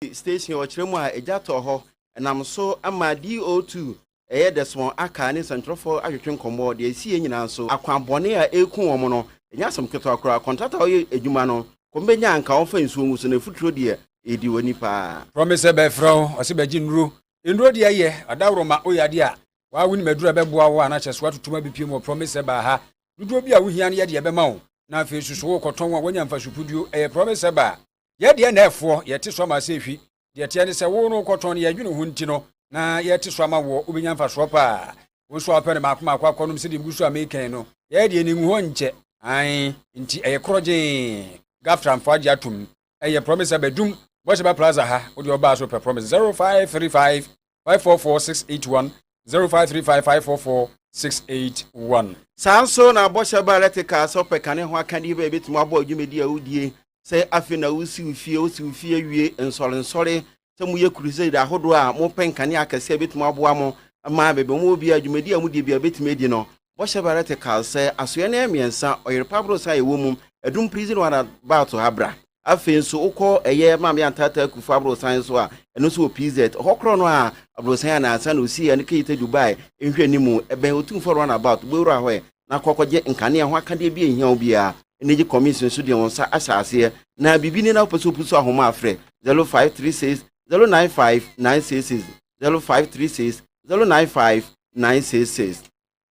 Kawasaki Station wɔ kyerɛ mu a egya tɔ hɔ ɛnam so ma DO2 ɛyɛ dɛ so wɔn aka ne nsɛntwerɛfo atwetwe nkɔmmɔ deɛ ɛsiiɛ nyinaa nso akwan bɔne a ɛreku wɔn no ɛnyɛ asɛm ketewa koraa kɔntrat a wɔyɛ adwuma no kɔm bɛnya anka wɔmfa nsuo ngu so na afuturo deɛ ɛredi wɔ nnipa a. Promise sɛ bɛfrɛ wo ɔse bɛgye nnuro nnuro deɛ yɛ ɔdaworo ma woyɛ adeɛ a waa wonim aduro a ɛbɛboa wo a na kyɛ so atotom abɛpue mu wɔ promise sɛ baa ha dodoɔ bi a wohia no yɛde ɛbɛma wo na afei susu wo rekɔtɔn a woanya mfasopuduo ɛyɛ promise sɛ baa Yɛ deɛ na ɛfoɔ, yɛte so ama sɛ ɛfi. Deɛ ɛteɛ ne sɛ, wo no wokɔtɔn no, yɛn adwene ho nti no, na yɛte so ama woɔ, wobɛnya mfasoɔ paa. Wo nso a wopɛ no mmaako mmaako akɔnom sɛdeɛ megu so a mekan no, yɛ deɛ ne nguhɔ nkyɛ. Aane, nti ɛyɛ korɔgyee. Gaftrafo agye atom. Ɛyɛ Promise Abadum, Bɔhyɛba Plaza ha, wodeɛ wobaa so pɛ Promise 0535. five four four six eight one zero five three five five four four six eight one. Saa nso na bɔhyɛ baa lɛte kaa sɛ ɔpɛ kane ho akadeɛ bi a ɛbɛtumi aboa dwumadi a wodie sɛ afei na wosi wo fie wosi wo fie awie nsɔre nsɔre sɛ moyɛ crusade ahodoɔ a mopɛ nkanea akɛseɛ a ɛbɛtumi aboa mo ma baabi a mowɔ biara dwumadi a modie biara bɛtumi adi no Bɔhyɛ Barrett kae sɛ, Asoɛe no yɛ mmiɛnsa, ɔyere pa boro san a ɛwɔ mu, ɛdum pirizi no ara na baa to ha bra. Afei nso, wokɔ ɛyɛ Maame Antata Akufo aborosan nso a, ɛno nso wɔ PZ. Ɛhɔ korɔ no a aborosan a nnansa na ɔsiiɛ ne Keyita Dubai nhwɛanim, ɛbɛn Otumfoɔ Run About, bɔ wura hɔ ɛ na kɔ kɔgye nkanea ho akadeɛ bi a ɛnhia wo biara. Energy Commission nso deɛ wɔn nsa ahyɛ aseɛ, na biribi nie na wopɛ sɛ wopusu ahoma a frɛ, 0536 095 966. zero five three six zero nine five nine six six.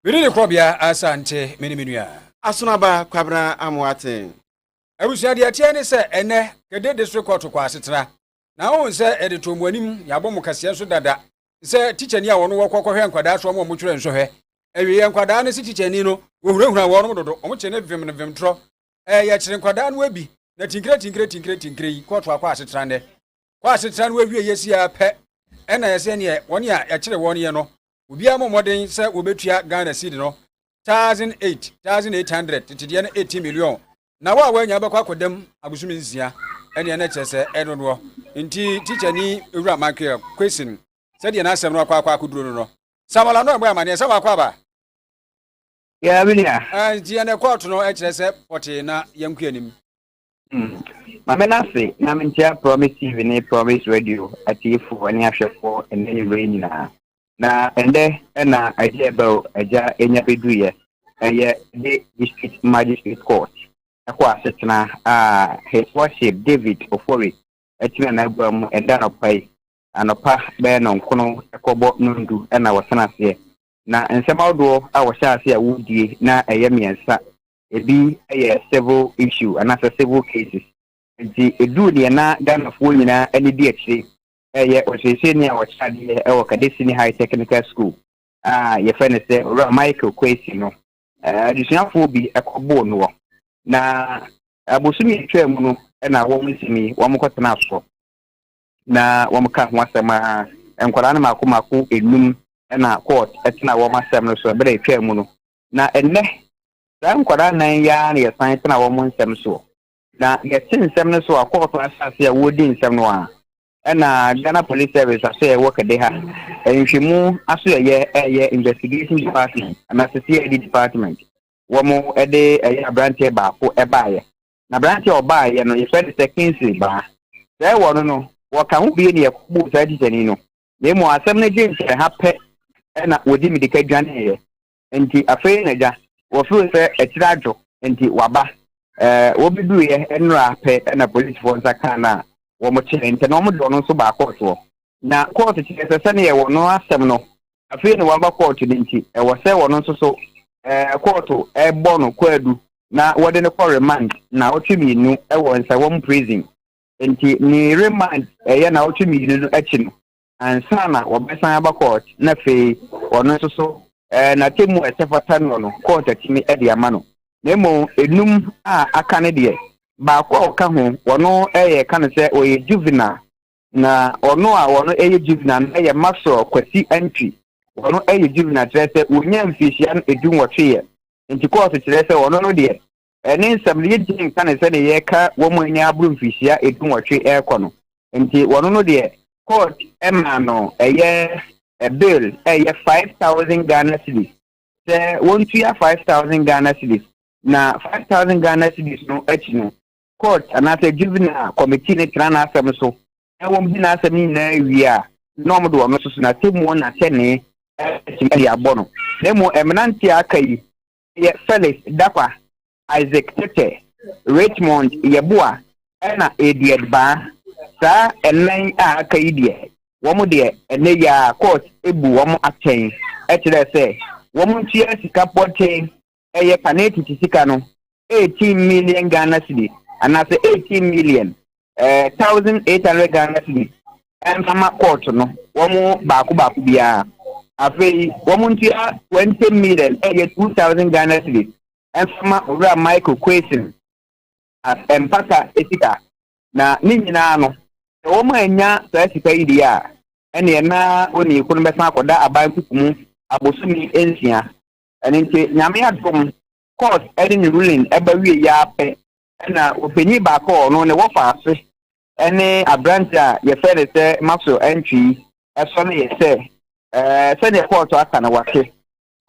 Me ne ne korɔbea Asante me ne me nua. Asono aba Kwabena Amoaten. Abusua deɛ ɛteɛ ne sɛ ɛnɛ Kede District Court kɔ asetena na wohu sɛ yɛde too mo anim, yɛabɔ mo kaseɛ nso dada sɛ tikyani a wɔn wɔkɔ kɔhwɛ nkwadaa soɔ ma wɔn twerɛ nsɔhwɛ awieɛ nkwadaa no se tikyani no wɔhunahuna wɔnom dodo, wɔn kye ne vem no vem torɔ, ɛɛ yɛkyere nkwadaa no abi na tinkire tinkire tinkire tinkire yi kɔɔto akɔ asetena nnɛ. kɔ asetra no awie yɛ si ara pɛ ɛna yɛ sɛ neɛ wɔn a yɛkyere wɔn yɛ no obiara mo mmɔden sɛ wɔbɛtua Ghana seed no thousand eight thousand eight hundred tetedeɛ no eighty million na wo a wɔanya bɛkɔ akɔdam abosom nsia ɛneɛ na kyerɛ sɛ ɛdodoɔ nti teacher ni ewura mankeɛ question sɛdeɛ n'asɛm no akɔ akɔ akɔduro no no Samuel ano ɛbɔ amaneɛ sɛ wakɔ aba nti yɛn ɛkɔɔto no ɛkyerɛ sɛ pɔtee na yɛnkɔ anim Hmm. Ma me n'ase na menkyia Promise TV ne Promise Radio atiefoɔ ne ahwɛfoɔ ɛnɛ anwummerɛ yi nyinaa. Na ɛndɛ ɛna agye ɛbɛ o agya ɛnya bɛduiɛ ɛyɛ de District Magistrate Court ɛkɔ asetena a His Worship David Ofori ɛtena n'agua mu ɛda anɔpa yi anɔpa bɛyɛ no nkono ɛkɔbɔ nondu ɛna wɔsena aseɛ na nsɛm ahodoɔ a wɔhyɛ ase a wɔdie na ɛyɛ mmiɛnsa ebi yɛ civil issue anaasɛ civil cases. Nti eduu deɛ na Ghanafoɔ nyinaa ani di akyire reyɛ ɔsieseeni a ɔkyerɛ adeɛ wɔ Kade Senior High Technical School a yɛfrɛ no sɛ Owura Michael Kwesi no, adesuafoɔ bi kɔboo noɔ. Na abosome a ɛtwaa mu no na wɔn nsɛm yi wɔkɔtenaa soɔ na wɔkaa ho asɛm a nkwadaa no mmaako mmaako nnum na court tenaa wɔn asɛm no so berɛ a ɛtwaa mu no. Na ɛnnɛ, saa nkwadaa nnan yi ara na yɛsan tena wɔn nsɛm soɔ. Na yɛte nsɛm no so a, kɔɔto ahyɛ ase a wɔredi nsɛm no ara na Ghana Police Service ahyɛ yɛn work de ha nhwehwɛmu aso ɛyɛ ɛyɛ Investigation Department anaasɛ CID Department wɔn de ɛyɛ aberanteɛ baako baeɛ. Na aberanteɛ a ɔbaeɛ no yɛfrɛ no sɛ Kingsley Baa. Sɛ wɔ no no wɔka ho bie ne yɛkɔbuu saa tikyani no na mmom asɛm no gye mfeha pɛ na wɔdi mmirika dwaneeɛ. Enti afei na gya wɔfrɛ sɛ akyiri adwo nti waba. Wɔbɛduruiɛ nnora pɛ na polisfoɔ nsa kaa no a wɔkyeree ntɛ na wɔde ɔno nso baa kɔɔtoɔ. Na kɔɔto kyerɛ sɛ sɛdeɛ wɔn asɛm no afei na waba kɔɔto no nti ɛwɔ sɛ wɔn nso so kɔɔto bɔ no kwaadu na wɔde no kɔ remand nnawɔtwe mmienu wɔ Nsawam Prison. Nti ne remand ɛyɛ na ɔtwe mmienu no akyi no ansa na wɔbɛsan aba court na afei ɔno nso so ɛɛ n'atemu a ɛsɛ fata no no court atumi ɛde ama no na mmom enum a aka no deɛ baako a ɔka ho wɔno ɛyɛ ka no sɛ ɔyɛ juvenile na ɔno a wɔno ɛyɛ juvenile no ɛyɛ maxwell kwasi antwi wɔno ɛyɛ juvenile kyerɛ sɛ wɔnya mfirihyia no edu nwɔtwe yɛ nti court kyerɛ sɛ wɔno no deɛ ne nsɛm no, yɛntumi nka no sɛdeɛ yɛka wɔn a anya aboro mfirihyia dunwɔtwe rekɔ no. Enti wɔn no deɛ, court maa no ɛyɛ bail a ɛyɛ five thousand Ghana cedis, sɛ wɔntua five thousand Ghana cedis, na five thousand Ghana cedis no akyi no, court anaasɛ juvenile committee no tena n'asɛm so na wɔdi n'asɛm no nyinaa wie a, na wɔde wɔn nso so n'atemmuo no atɛnee atumi de abɔ no. Na mmom mmeranteɛ a aka yi, yɛ Felix Dakwa, Isaac Tete, Richmond Yeboah ɛna Edward Baa. Saa ɛnan yi a aka yi deɛ wɔn deɛ ɛnɛ yi ara court abu wɔn atɛn ɛkyerɛ sɛ wɔn ntua sika pɔtee ɛyɛ panetiti sika no 18 million Ghana cedi anaasɛ 18 million eh, thousand eight hundred ghana cedis mfama kɔɔto no wɔn baako baako biara afei wɔn ntua twenty million ɛyɛ two thousand ghana cedis mfama owura michael kwesin as mpata sika na ne nyinaa no sɛ wɔn a anya saa sika yi deɛ a ɛneɛ na onii ko no bɛsan akɔda aban kuku mu abosomi nsia ɛno nti nyame adom court ɛde ne ruling ɛba wie yɛ apɛ Ɛnna ɔpanyin baako a ɔno ne wɔfa ase ne aberante a yɛfrɛ no sɛ Maslow Antwi sɔ no yɛ sɛ, sɛdeɛ kɔɔto aka no wɔahwe,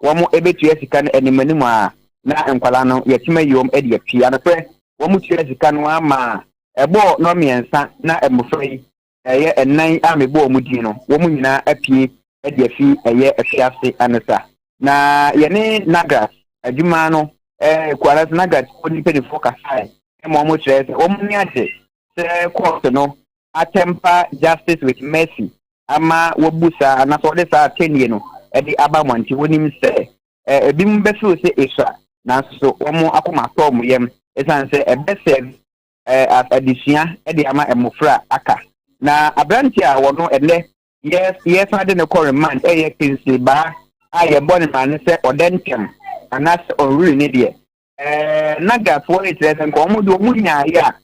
wɔbɛtua sika no animanim a na nkwadaa no yɛatim ayi wɔn de apue. Anokorɛ, wɔtuaa sika no ara maa ɛbɔɔ nnɔnmiɛnsa na mmɔfra yi ɛyɛ nnan a mebɔɔ mu din no, wɔn nyinaa apue de afi ɛyɛ afiase anesa. Na yɛne Nagras adwuma no Kuaras Nagras kuo no mpanimfoɔ kasaeɛ ma wɔkyerɛɛ sɛ wɔn ani agye sɛ kɔɔto no atɛmpa Justice with Mercy ama wɔabu saa anaasɛ wɔde saa atɛnnie no de aba mmɔnten. Wɔnim sɛ ebinom bɛfiri sɛ esua nanso wɔn akoma atɔ wɔn yam ɛsiane sɛ ɛbɛsɛɛve adesua de ama mmofra a aka. Na aberante a wɔno ɛnnɛ yɛsan de no kɔ remand yɛ Kingsley Baa a yɛbɔ ne maa no sɛ ɔdɛ ntɛm anaasɛ ɔnwiri ne deɛ. Nagafoɔ rekyerɛ sɛ nka wɔn de wɔn nyaeɛ a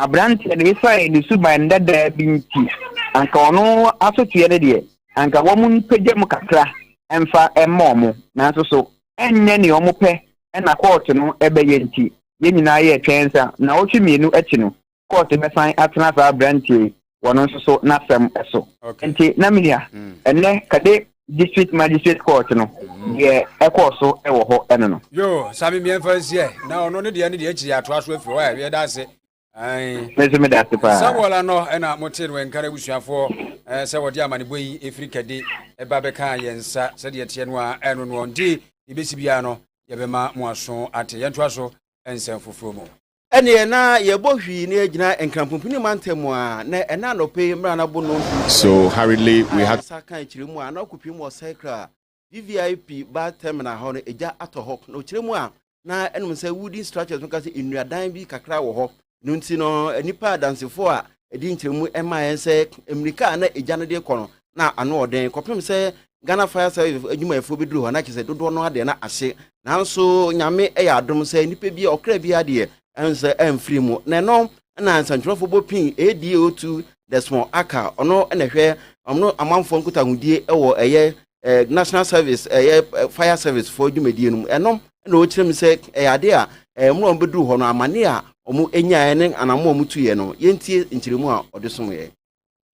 aberanteɛ no ɛsiane ne suban dadaa bi nti anka ɔno asoteɛ no deɛ anka wɔn mpagya mu kakra mfa mma wɔn nanso so ɛnyɛ nea wɔn pɛ na kɔɔto no bɛyɛ nti, yɛn nyinaa yɛɛ twɛn sɛ nnawɔtwe mmienu akyi no, kɔɔto bɛsan atena saa aberanteɛ yi, wɔn nso so, n'asɛm so. Enti na minya, ɛnnɛ, Kade District Magistrate Court no, deɛ ɛkɔɔ so wɔ hɔ no no. Yoo, saa me mmiɛnfa nsi ɛ, na ɔno ne deɛ ne deɛ akyiri yɛatoa so afiri hɔ ɛ, yɛda ase. saa wɔla no ɛna mote no ɛnkara abusuafoɔ sɛ wɔde amanebɔ yi ɛfiri kɛde ɛba bɛkaa yɛn nsa sɛdeɛ teɛ no a ɛno noɔ nti yɛbɛsi biara no yɛbɛma mo aso ate yɛntoa so nsɛm foforɔ mu ɛneɛ na yɛbɔ hwii na yɛgyina nkrampompini mantam a na ɛna anɔpɛ yi mmara no abonom so hurriedly we had sa ka akyire mu a na ɔkɔpie mu ɔsɛe kra VVIP bus terminal hɔ no egya atɔ hɔ na ɔkyerɛ mu a na ɛnom sɛ wooden structures no ka sɛ nnuadan bi kakra wɔ hɔ no nti no nnipa adansefo a ɛdi nkyerɛmu ɛma yɛn sɛ mmirika a na egya no de kɔ no na ano ɔden kɔpem sɛ Ghana fire service adwumayɛfoɔ bɛduru hɔ na kyerɛ sɛ dodoɔ no adeɛ na ahye nanso nyame ɛyɛ adom sɛ nnipa bi ɔkra bi adeɛ Ɛnsɛ ɛmfiri mu. Na ɛno na nsɛntwerɛfoɔ bɔ pii ADO2 Desmond Aka, ɔno na ɛhwɛ ɔno amanfoɔ nkutahodie wɔ ɛyɛ National Service ɛyɛ Fire Service foɔ dwumadie no mu. Ɛno na ɔkyerɛ mu sɛ ɛyɛ adeɛ a mmerɛ wɔn bɛduru hɔ no amaneɛ a wɔn nyaeɛ ne anamɔ a wɔn tuiɛ no yɛntie nkyerɛmu a ɔde someɛ.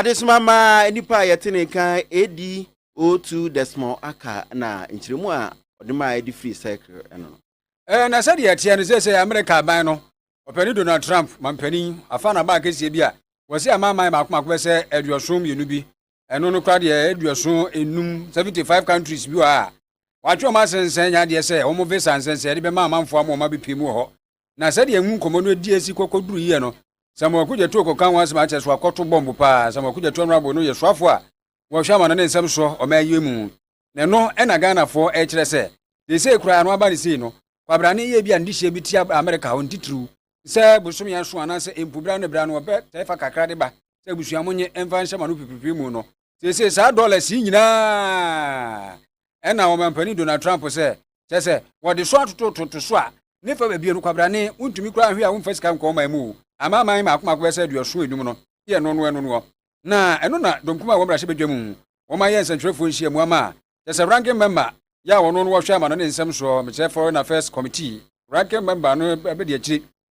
Adesoma ma nnipa a yɛte ne nka AD 02 Desmond Aka na nkyerɛmu a ɔde maa ɛde firi Circle no no. Ɛɛ, na sɛdeɛ ɛteɛ no, seesei Amerika aban no, Ɔpanin Donald Trump, mampanin, afa n'aba akɛseɛ bi a wɔse amanaman mmaako mmaako bɛsɛ aduɔson mmienu bi, ɛno no koraa deɛ ɛyɛ aduɔson nnum, 75 countries, bi wɔ ha a wɔatwe wɔn asensɛn nya adeɛ sɛ wɔn visa nsɛnsɛɛde bɛma amanfoɔ ama wɔabɛpie mu wɔ hɔ na sɛdeɛ mu nkɔmmɔ no adi asi kɔkɔduru yie no, Samuel Kogyatuo kɔka ho asɛm akyɛ so akɔto bɔmbo paa. Samuel Kogyatuo Anwabo no yɛ soafoɔ a wɔhwɛ amano ne nsɛm soɔ ɔman yi mu. Na ɛno na Ghanafoɔ rekyerɛ sɛ seesei koraa no aba no sei no, kwabrane yɛ bi a ne dehyeɛ bi te Amerika hɔ, ne titiriw sɛ bosome ason anaasɛ mpo berɛ ano berɛ ano wɔbɛtae fa kakra de ba sɛ abusua monnye mfa nhyɛ mo ano pipiripiri mu no. seesei saa dollars yi nyinaa ɛna ɔmampanin donald trump sɛ kyɛ sɛ wɔde so atotototo so a ne fa baabi no kwabrane wontumi koraa ahwe a womfa sika nkɔ ɔman mu ama aman mmaako mmaako bɛsɛ aduɔso enum no yɛ ɛno no ɛno noɔ na ɛno na dɔmkum a wɔn mmarahyɛ badwa mu wɔn ayɛ nsɛntwerɛfoɔ nhyia mu ama kyɛ sɛ ranking member yɛ a wɔno no wɔhwɛ ama no ne nsɛm soɔ mekyerɛ foreign affairs committee ranking member no bɛdi akyiri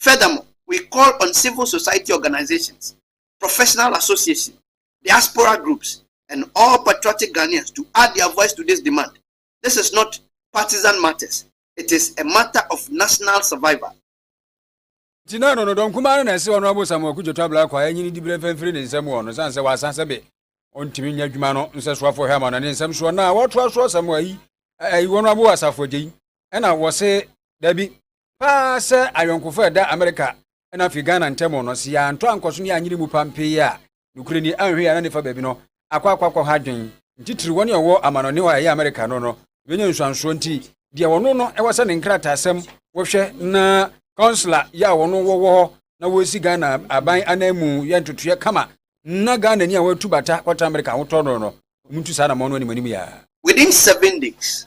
Furthermore, we call on civil society organisations, professional associations, diaspora groups and all patriotic Ghanaians to add their voice to this demand. This is not partisan matters, it is a matter of national survival. Nti na Ɔdɔnɔdɔ nkumaa no na ɛse Honourable Samuel Kudjoto Ablakwa a ɛnyini diberɛ mfa mfiri ne nsam wɔ no sane sɛ wasa sɛ be ɔntumi nyɛ adwuma no nsɛsoafoɔ hwɛ ama no ne nsɛm soɔ na wɔtoa so asɛm ayi ayi Honourable Asafo Adjei ɛna wɔse dabi Paa sɛ ayɔnkofo a ɛda Amerika na afei Ghana ntam no, sɛ yɛantɔ ankɔso na yɛanyere mu pampee a, nokorɛ ni, anhwɛ yɛ a na nifa baabi no akɔ akɔ akɔ ha adwen. Nti tiri wɔn a wɔwɔ amanɔne hɔ a ɛyɛ Amerika no no, yɛbɛnya nsuansoɔ nti deɛ wɔno no ɛwɔ sɛ ne nkrataasɛm wɔhwɛ na Consular yɛ a wɔno wɔwɔ hɔ na wɔsi Ghana aban anan mu yɛ ntotoeɛ kama na Ghana ni a wɔatu bata kɔtra Amerika ahotɔ no no, wɔntu saa anamɔn no anim anim yɛ a. Within seven days,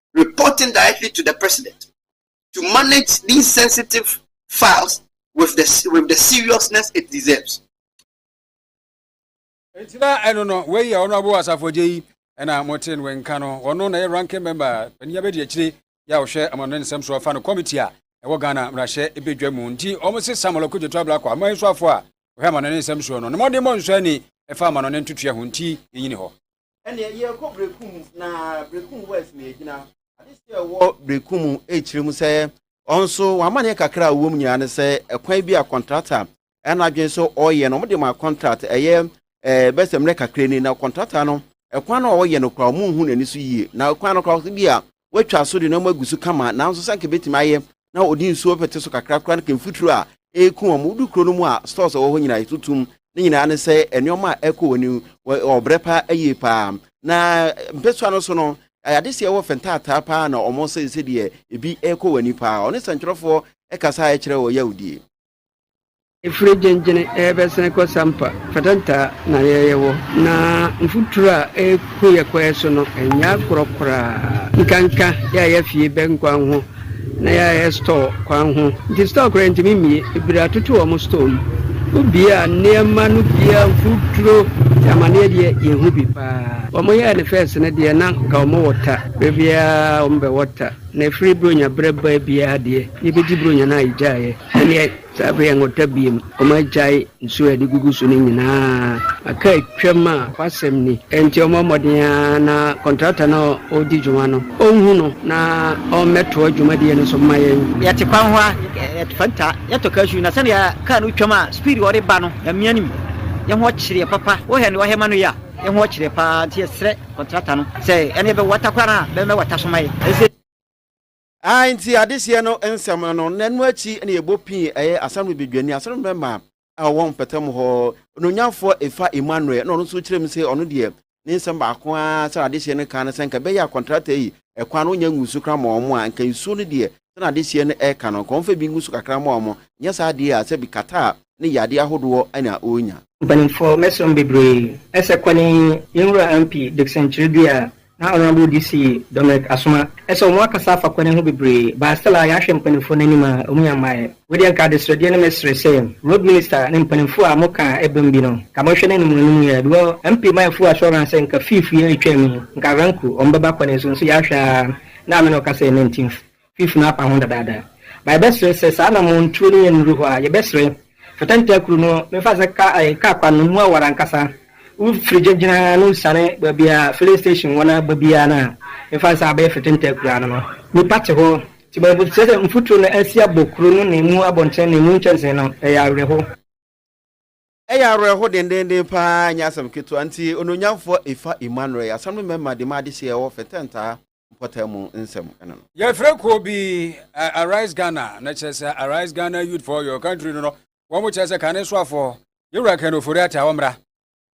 reporting directly to the president to manage these sensitive files with the, with the seriousness it deserves. nti na ɛno no wei yɛ ɔno abo asafogye yi ɛna mote no nka no ɔno na yɛ ranking member panin abɛdi akyire yɛ a ɔhwɛ amano ne nsɛm so afa no committee a ɛwɔ ghana mmarahyɛ ɛbɛdwa mu nti ɔmo se samuel akudwoto ablakɔ ama nso afo a ɔhwɛ amano ne nsɛm soɔ no ne mmɔden mmɔ nsɔ ani ɛfa amano ne ntotua ho nti yɛnyini hɔ Ɛneɛ yɛrekɔ Berekum na Berekum West na yɛgyina. Adehyɛ a ɛwɔ Berekum rekyerɛ mu sɛ wɔn nso wɔn amaneɛ kakra a wɔwɔ mu nyinaa ne sɛ ɛkwan bi a kɔntrata ɛna adwene sɛ ɔreyɛ no wɔde ma kɔntrat ɛyɛ ɛɛ bɛsɛ mmerɛ kakra ni na kɔntrata no ɛkwan no a ɔreyɛ no koraa wɔn nhu n'ani so yie na ɛkwan no koraa bi a wɔatwa so de no ama agu so kama, nanso sɛ anka ebetumi ayɛ na ɔde nsuo bɛpete so kakra koraa na ka mfuturo a ɛreku wɔn. Wodu kuro no mu a, stores a ɛwɔ hɔ nyinaa yɛto tom. Ne nyinaa ne sɛ nneɛma a ɛrekɔ wɔn anim wɔ ɔbrɛ paa ayie paa. Na mpɛsoa no so no, adeseɛ wɔ fɛ ntaataa paa na wɔn sɛ sɛdeɛ ebi rekɔ wɔn ani paa. Ɔne sɛntwerɛfoɔ kasa a ɛkyerɛ wɔ yawdie. Efiri gyengyene ɛɛbɛsene kɔ sampa fatantaa na yɛɛyɛ wɔ. Na mfuturo a ɛɛku yɛ kɔɛ so no ɛnyɛ akorɔ koraa. Nkanka yɛɛyɛ fie bɛn kwan ho na yɛɛyɛ stɔɔ kwan ho. Nti stɔɔ koraa yɛntumi mmie. Ebiri atoto wɔn stɔɔ mu. Wo bie a nneɛma no biaa mfuturo te amaneɛ deɛ yɛhu bi paa. Wɔn yɛɛ no fɛs no deɛ na nka wɔn wɔ ta. Berɛ biaa wɔn bɛwɔ ta. Na ɛfiri Buronya berɛ baa biara deɛ, yɛbɛdi Buronya no a yɛgyaeɛ. Ɛnneɛ, saa berɛ yi anwɔta biom, wɔagyae nsuo a yɛde gugu so no nyinaa. Aka atwam a w'asɛm ni. Enti wɔmmɔ mmɔden ara na kɔntrakta no a ɔredi dwuma no, ɔnhu no na ɔmmɛtoa dwumadie no so mma yɛn. Yɛte kwan ho a, yɛte Fanta, yɛtɔ cashew, na sɛdeɛ kaa no retwam a speed a ɔde ba no, Nyame anim, yɛn ho kyere yɛn papa. Wohɛ nea ɔhɛ ma no yi a, yɛn ho kyere yɛn paa, nti yɛsrɛ. Kɔntrata no sɛ ɛneɛ bɛ wata koraa no a bɛmɛ wata so ma yɛ ɛsɛ. Ae nti adehyeɛ no nsɛm no na ɛno akyi na yɛbɔ pii ɛyɛ Assembly Badwani Assembly Member a ɔwɔ mpɛtam hɔ Onuonyamfoɔ Efa Emmanuel na ɔno nso kyerɛ mu sɛ ɔno deɛ ne nsɛm baako ara sɛdeɛ adehyeɛ no kaa no sɛ nka ɛbɛyɛ a kɔntrata yi ɛkwan no ɔnya ngusu koraa ma wɔn a nka nsuo no deɛ sɛnea adehyeɛ no reka no, nka wɔmfa bi ngu so kakra mmoa wɔn, nyɛ saa deɛ a sɛ bi kataa ne yadeɛ ahodoɔ na ɔrenya. Mpanimfoɔ mɛsom bebree ɛsɛ kwane yi yɛn nwura MP Dickson Twerɛdua na Honourable DC Dominic Asoma ɛsɛ wɔn akasa afa kwane ho bebree but still a yɛahwɛ mpanimfoɔ no anim a wɔn yɛ mmaeɛ wei deɛ nka adesrɛdeɛ no mɛsrɛ sɛ Road Minister ne mpanimfoɔ a moka a ɛbam bi no nka monhwɛ no anim anim yie because MP Mayɛfuo Assurance sɛ nka fiif yɛ retwam yi nka Ranku wɔn bɛba kwane so nso yɛahwɛ a Ná me ne ɔkasa yɛ nantin fifunu apa ho dadaada. Ma yɛbɛsrɛ sɛ saa anammɔn tuo no yɛ nnuru hɔ a, yɛbɛsrɛ. Fata ntakuru no, memfa nsɛ ka ɛɛ, kaa kwan no mu aware ankasa. Wofiri gya gyina na wosiane baabi a filling station wɔ no ara ba biara no a, memfa nsɛ abɛyɛ fata ntakuru ano no, nnipa te hɔ. Nti ma yɛbɛsrɛ sɛ mfuturo no asi abɔ kuro no ne emu abɔnten ne emu nkyɛnsee no. Ɛyɛ awerɛhow. Ɛyɛ awerɛho dendeenden paa, ɛnyɛ asɛm ketewa. Nti, Onuonyamfoɔ Efa Emmanuel, asɛm no mmarima de ma adehyeɛ a ɛwɔ Fɛtɛntaa mpɔtam mu nsɛm no. Yɛfrɛ kuo bi Arise Ghana, na kyerɛ sɛ Arise Ghana Youth for Your Country no no, wɔn kyerɛ sɛ Kane Soafoɔ, Yɛwura Ken Ofori-Atta, wɔmmra.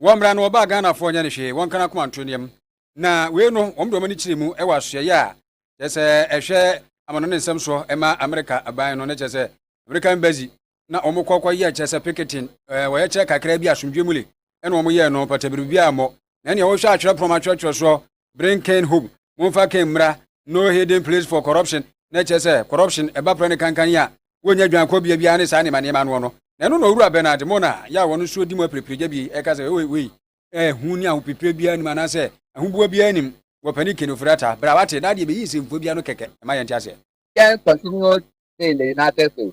Wɔmmra na wɔba a Ghanafoɔ nyɛ no hwee, wɔnka n'akoma nto nneɛm. Na wei no, wɔn de wɔn ani kyerɛ mu wɔ asoɛeɛ a kyerɛ sɛ ɛhwɛ amanɔne nsɛm soɔ ma Amerika aban no, na kyerɛ sɛ American Embassy na wɔkɔ kɔ yɛ kyerɛ sɛ piketin ɛɛ wɔyɛ kyerɛ kakra bi asomdwe mu le ɛna wɔn yɛɛ no pata biribi a mɔ na nea wɔhwɛ atwerɛ pɔm atwerɛtwerɛ soɔ bring Ken home momfa Ken mmra no hidden place for corruption na ɛkyerɛ sɛ corruption ɛba prɛ ne kankan yi a wɔnya dwan kɔ bia biara ne saa nneɛma nneɛma noɔ no na ɛno na owura Bernard mo na yɛ a wɔn nso di mu apirepirigya bi ɛka sɛ wei wei ɛho ne ahopepire biara nim anaasɛ ahoboa biara nim wɔ panin Ken Ofori-Atta bra wate na adeɛ bɛyi nsɛmfua biara no kɛkɛ ɛma yɛnte aseɛ. Ken continued sailing in Attersay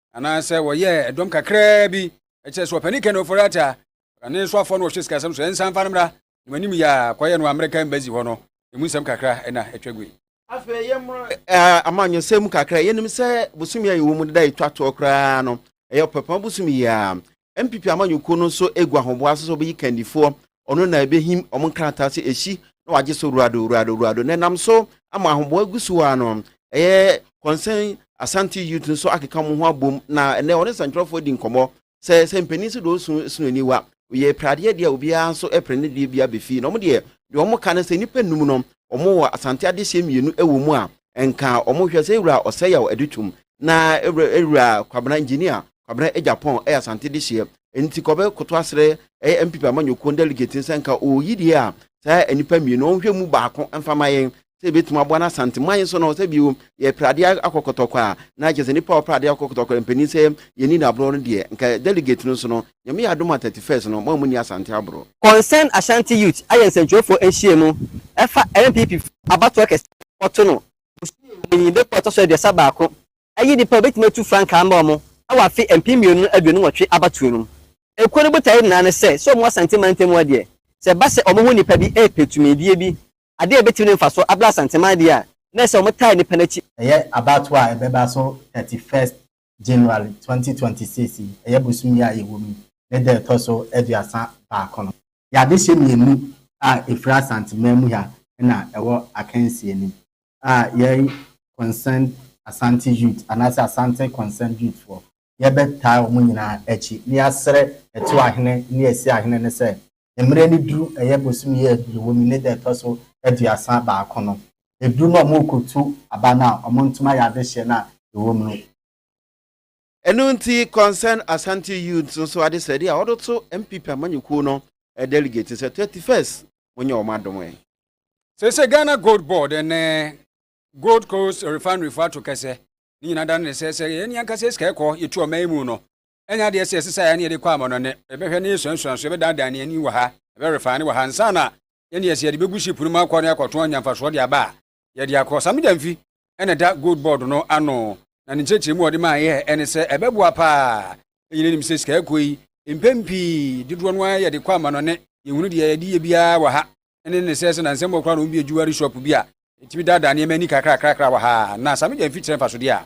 anaasɛ wɔyɛɛ ɛdɔm kakraa bi ɛkyerɛ sɛ ɔpani kɛne ɔfɔre ata ɔrane nso afɔ no ɔhyɛ sikasɛm so ɛnsan fa no mmra na manim yɛ a kɔyɛ no amerika embassy hɔ no ɛmu nsɛm kakra ɛna ɛtwa gui afei yɛ mmra eh, amanyɔsɛm mu kakra yɛnim sɛ bosomi a yɛwɔ mu deda ɛtwa toɔ koraa no ɛyɛ ɔpɛpɛn bosomi yɛ a NPP amanyɔkuo no nso regu ahoboa so sɛ wɔbɛyi kandifoɔ, ɔno na ɛbɛhim wɔn nkrataa sɛ ɛsi na wɔagye so wurado wurado wurado. Na ɛnam so ama ahoboa gu so ara no, ɛyɛ Concern Asante Youth nso akeka wɔn ho abom na ɛnɛ wɔne sɛntwerɛfoɔ di nkɔmmɔ sɛ sɛ mpanin so deɛ ɔsu ɛsono aniwa, ɔyɛ pradeɛ deɛ a obiara nso pere ne deɛ bi abɛfie. Na wɔn deɛ, deɛ wɔn ka ne sɛ nnipa nnum no wɔn wɔ Asante adehyeɛ mmienu wɔ mu a nka wɔn hwɛ sɛ wura Ɔsɛyaw Adutum na wura Kwabena Engineer Kwabena Agyapong yɛ Asante dehyeɛ nti kɔbɛ koto asrɛ ɛyɛ NPP amanyɔkuo no delegate no sɛ nka ɔɔyi deɛ a saa nnipa mmienu no ɔnhwɛ mu baako mfa ma yɛn sɛ yɛbɛtumi aboa no Asante man nso no sɛ bio yɛ pra adeɛ akɔ kɔtɔkɔ a na kyerɛ sɛ nnipa a ɔpra adeɛ akɔ kɔtɔkɔ no mpanin sɛ yɛnni no aborɔ no deɛ nka delegate no nso no Nyame yɛ adom a 31st no mo a monni Asante aborɔ. Concerned Ashanti Youth ayɛ nsɛntwerɛfoɔ nhyiamu ɛfa NPP foɔ abatoɔ kɛseɛ a wɔkɔto no bosome wɔ mu yi bepɔ a ɛtɔ so aduasa baako Eyi de pɛ a obetumi atu frankaa ama wɔn wɔ afe mpem mmienu ne aduonu nwɔtwe abatoɔ no mu. Ekuo no botaeɛ nyinaa ne sɛ, sɛ wɔn wɔ Asante mantam mu a deɛ, sɛ ɛba sɛ wɔn ho nnipa bi repɛ tumidie bi, adeɛ a ebetumi de mfasoɔ abrɛ Asanteman deɛ a, na ɛsɛ sɛ wɔtaa nnipa no akyi. Ɛyɛ abatoɔ a ɛbɛba so thirty first January twenty twenty six yi, ɛyɛ bosom yi a yɛwɔ mu yi ne da a ɛtɔ so aduasa baako no. Yɛ adehyeɛ mmienu a efiri Asanteman mu ha na ɛwɔ akansie no mu. a yɛn Concerned Asante Youth anaasɛ Asante Concerned Youth foɔ, yɛbɛtaa wɔn nyinaa akyi na yɛasrɛ Ɛto Ahene ne Asi Ahene no sɛ, mmerɛ no duru, ɛyɛ bosome yi a yɛwɔ mu yi ne da ɛtɔ so aduasa baako no, ɛduru na wɔrekɔtu aba no a, wɔntumi ayɛ adehyeɛ no a yɛwɔ mu no. Ɛno nti Concerned Asante Youths nso adesrɛde a ɔde to NPP amanyɔkuo no delegate sɛ 31st monyɛ wɔn adom ɛ. Seesei Ghana Gold Board ne Gold Coast Refinery fo ato kɛsɛ. Ne nyinaa da no ne sɛ, sɛ yɛn ankasa yɛ sika kɔ yɛtu ɔman yi mu no, ɛnyɛ adeɛ sɛ ɛsɛ sɛ yɛn ne yɛde kɔ amannɔne. Yɛbɛhwɛ na yɛsuasua so, yɛbɛdanedane yɛn ani wɔ ha, yɛbɛ refine wɔ ha ansa na yɛn ne yɛsɛ yɛde bɛgu ship no mu akɔ na yɛakɔtɔn anya mfasoɔ de aba a, yɛde akɔ. Saa mogya mfi na ɛda gold board no ano, na ne nkyerɛkyerɛmu a ɔde maa yɛ ne sɛ ɛbɛboa paa. Yɛn nyinaa nim sɛ sika ɛkɔ yi, mpɛn pii dodoɔ no ara yɛde kɔ amanɔne. Yɛhunu deɛ yɛde yɛ biara wɔ ha, ɛne ne sɛ sɛ nansɛm mu koraa na wɔbue jewelry shop bi a, ɛtumi daadaa nneɛma ani kakrakrakra wɔ ha, na saa mogya mfi kyerɛ mfasodeɛ a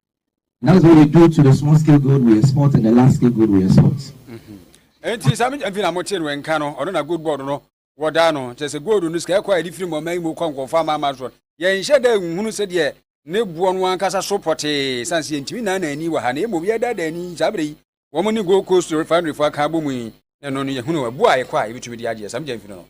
That's what we do to the small scale gold we export and the large scale gold we export. Enti mm-hmm. sami mfi na mo te no nka no ɔno na gold board no wɔda no kyerɛ sɛ gold no sika ɛkɔ a yɛde firi mu ɔman yi mu kɔ nkɔfo ama ama so yɛnhyɛ dɛ nhunu sɛdeɛ ne boɔ no ankasa so pɔtee san sɛ yɛntumi nan na ani wɔ ha na mmom yɛda da ani saa berɛ yi wɔn ne gold coast refinery fo aka abɔ mu yi na ɛno no yɛhunu ɛboɔ a ɛkɔ a yɛbɛtumi de agyeɛ sami gya mfi no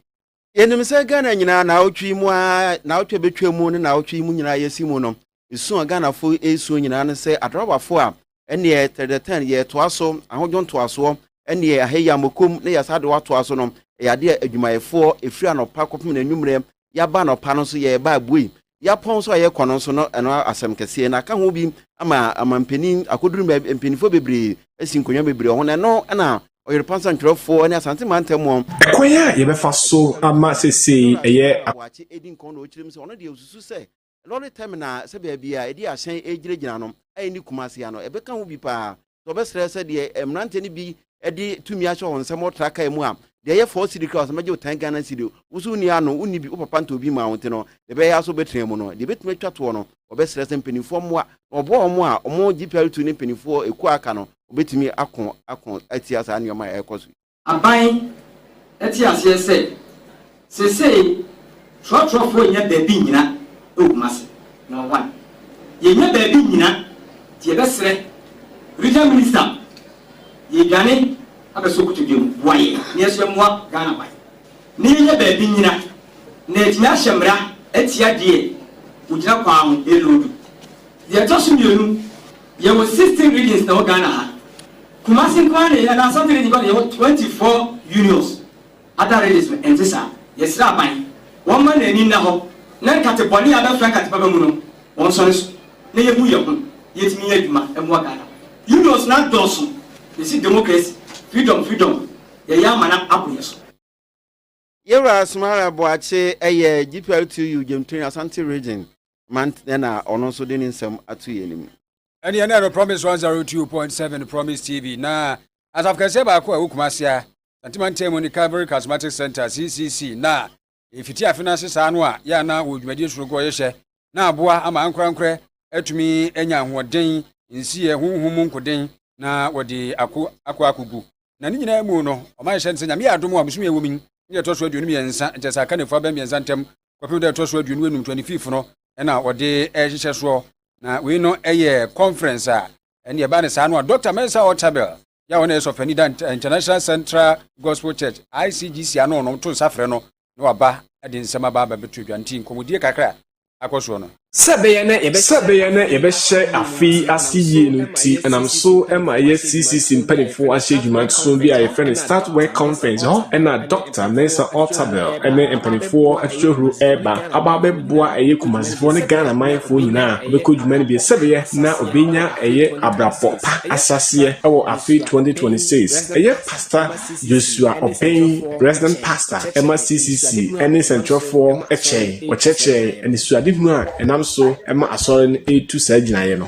Yɛnim sɛ Ghana nyinaa naawɔtwe yi mu ara, naawɔtwe a ɛbɛtwa mu ne naawɔtwe yi mu nyinaa yɛsi mu no, su a Ghanafo resua nyinaa ne sɛ adrabafo a ɛneɛ tɛrɛtɛn yɛretoa so, ahodwo ntoasoɔ, ɛneɛ ahɛ yammokom na yɛasa de wɔ atoa so no, ɛyɛ adeɛ a adwumayɛfoɔ ɛfiri anɔpa kɔpem n'anwummerɛ, yɛaba anɔpa no nso yɛreba abuei, Yapɔn so a yɛkɔ no nso no ɛno asɛm kɛseɛ na aka ho bi ama amampanin akɔduru baabi mpanimfoɔ bebree asi nkonnwa bebree wɔ ho na ɛno na Ɔyerepansa ntwerɛfoɔ ne Asante mantam wɔn Ɛkwan a yɛbɛfa so ama seesei ɛyɛ a. Boakye edi nkɔn na ɔkyerɛ mu sɛ ɔno deɛ ɔsusu sɛ lɔre tɛmina sɛ baabi a ɛde ahyɛn ɛregyinagyina no a ɛnni Kumasi ha no ɛbɛka ho bi pa ara sɛ ɔbɛsrɛ sɛ deɛ mmeranteɛ no bi de tumi ahyɛ wɔn nsɛm ɔtra kaa mu a deɛ ɛyɛ fɔɔ siri kra ɔsɛ mɛgye wo tan ghana siri wo so wonni ano wonni bi wo papa ntɔ bi maa wo nti no deɛ ɛbɛyɛ aso bɛtena mu no deɛ bɛtumi atwa toɔ no ɔbɛsrɛ sɛ mpanimfoɔ mmoa na ɔboa wɔn a wɔn GPR2 ne mpanimfoɔ ɛkuo aka no ɔbɛtumi ako ako atia saa nneɛma a ɛrekɔ so Aban te aseɛ sɛ, seesei trɔtrɔfoɔ nnya baabi nnyina wɔ Kumasi. Na why? Yɛnnya baabi nnyina nti yɛbɛsrɛ Regional Minister yɛredwane abɛsɔ kotodwe mu, boa yɛn na yɛn nso yɛmmoa Ghana ban na yɛnnya baabi nnyina na yɛatumi ahyɛ mmara atia deɛ ɔgyina kwan ho reloadu. Deɛ ɛtɔ so mmienu, yɛwɔ sixteen regions na ɛwɔ Ghana ha. Kumasi nko ara na yɛnya na asɔfo yi de kɔ yɛwɔ twenty four unions other regions no ɛnte saa yɛsrɛ aban wɔmma na ani nna hɔ na nkate bɔne a abɛfra nkate papa mu no wɔnsɔre so na yɛhu yɛn ho yɛtumi nyɛ adwuma mmoa Ghana unions no adɔɔso yɛsi democracy freedom freedom yɛyɛ amana abo yɛn so. Yɛwura Asmara Boakye yɛ GPLTU Gyamtoni Asante Region Mant na ɔno nso de ne nsɛm ato yɛn anim. Ɛneɛ na ɛno Promise 102.7 Promise TV na asafo kɛseɛ baako a ɛwɔ Kumase a Asante Mantam mu ne Calvary Charismatic Centre, CCC, na ɛfiti afe no ase saa no a yɛ a na wɔ dwumadie soronko a wɔyɛhyɛ na aboa ama ankorankorɛ atumi anya ahoɔden, nsiyɛ, honhom mu nkoden na wɔde ako akɔ akogu Na ne nyinaa mu no, ɔma yɛhyɛ no sɛ, Nyame yɛ adom a, bosome a ɛwɔ mu yi ne deɛ ɛtɔ so aduonu mmiɛnsa, nkyɛ sɛ aka nnafua abɛn mmiɛnsa ntam kɔpem da a ɛtɔ so aduonu anum, twenty fifth, no na wɔde rehyehyɛ soɔ. Na wei no yɛ conference a ɛne ɛbaa no saa no a Doctor Mensah Otabil yɛ a ɔno na ɛyɛ sɔfoani da International Central Gospel Church, ICGC, ano no to nsa frɛ no na waba de nsɛm aba abɛbɛto dwa. Nti nkɔmmɔdie kakra akɔ soɔ no. Sɛ ɛbɛyɛ na yɛbɛhyɛ. Sɛ ɛbɛyɛ na yɛbɛhyɛ afe yi ase yie no nti, ɛnam so ma ɛyɛ CCC mpanimfoɔ ahyɛ adwuma nso bi a yɛfrɛ no Start Work Conference hɔ na Dɔkta Mensah Otabil ne mpanimfoɔ atitiriw reba aba abɛboa ɛyɛ Kumasefoɔ ne Ghana manfoɔ nyinaa a wɔbɛkɔ dwuma no bi sɛ ɛbɛyɛ na wɔbɛnya ɛyɛ abrabɔ pa ahyɛaseɛ wɔ afe 2026. Ɛyɛ Pastor. Yosua Obeng, Resident Pastor ma CCC ne nsɛnkyerɛwfoɔ kyɛɛe. Ɔkyerɛkyerɛɛ anisoadehunu a ɛnam so ma Asɔre no retu saa gyinaeɛ no.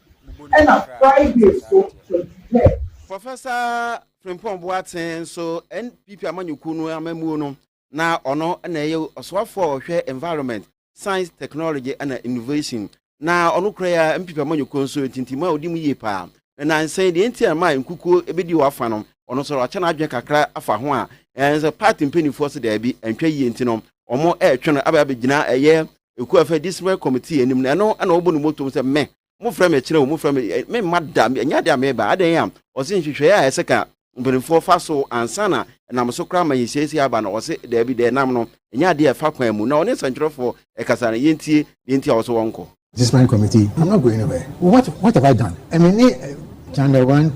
ɛna Friday nso Kwadu Hɛ. Professor Frimpong Boateng nso NPP amanyɔkuo no amammuo no na ɔno na ɛyɛ ɔsoafoɔ a ɔhwɛ Environment, Science, Technology ɛna Innovation na ɔno kura yɛ a NPP amanyɔkuo nso ntintimu a ɔdi mu yie paa. Na nansa yi deɛ nti a ɛma nkukuo ɛbɛdi wɔ afa no ɔno nso wakyɛ n'adwene kakra afa ho a ɛɛ sɛ party mpanimfoɔ sɛ daabi ɛntwa yie nti no wɔn ɛretwe no abɛ abɛgyina ɛyɛ ekuo a ɛfɛ disciplinary committee anim no ɛno ɛna ɔbɔ ne motom sɛ mɛ mo frɛ me kyerɛ o mo frɛ me ɛ me mma da ɛnyɛ adeɛ a meba adan a ɔse nhwehwɛeɛ a ɛsɛ ka mpanimfoɔ fa so ansa na ɛnam so koraa ma yɛsiesie aba no ɔse daabi deɛ ɛnam no ɛnyɛ adeɛ a ɛfa kwan mu na ɔne nsɛntwerɛfoɔ ɛkasa no yɛntie deɛ nti a ɔse wɔnkɔ disciplinary committee I'm not going anywhere what, what have I done ɛme ne channel one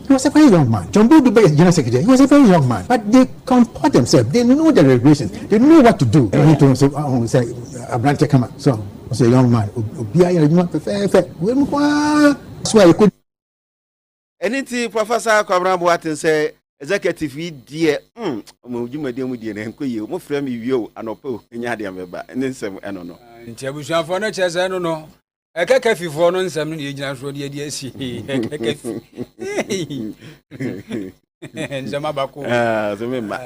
He was a very young man. John Bull Dubé is the General Secretary. He was a very young man. But they comport themselves. They know the regulations. They know what to do. And he told him, oh, say, Abrante Kama. So, I say, young man, Obia, you know, perfect. Where you go? So I could. And it's Professor Kwabena Boateng say, executive yi deɛ hmm, ɔmo dwumadie mu deɛ na nkɔ yie ɔmo frɛ mi wie o anɔpɛ o nya adeɛ mɛba ne nsɛm ɛno no. nti abusuafoɔ no kyerɛ sɛ ɛno no ɛkɛkɛfifoɔ no nsɛm no na yɛgyina soɔ de adi asi ɛkɛkɛfi nsɛm abako so memma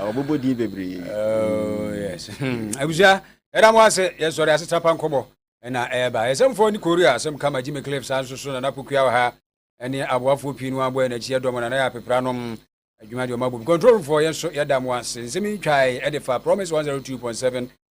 ɔbobɔ din bebree oh, yes hmm. abusua ɛda mo ase yɛsɔre asesa pa nkɔmmɔ ɛna ɛba ɛsɛmfoɔ ne korea asɛm kama gyimi cliff saa nso so nana pokua wɔ ha ɛne aboafoɔ pii no aboɛ n'akyi ɛdɔm nana yɛ apepra nom adwuma deɛ ɔma bobi control foɔ yɛn nso yɛda mo ase nsɛm yi twae ɛde fa promise 102.7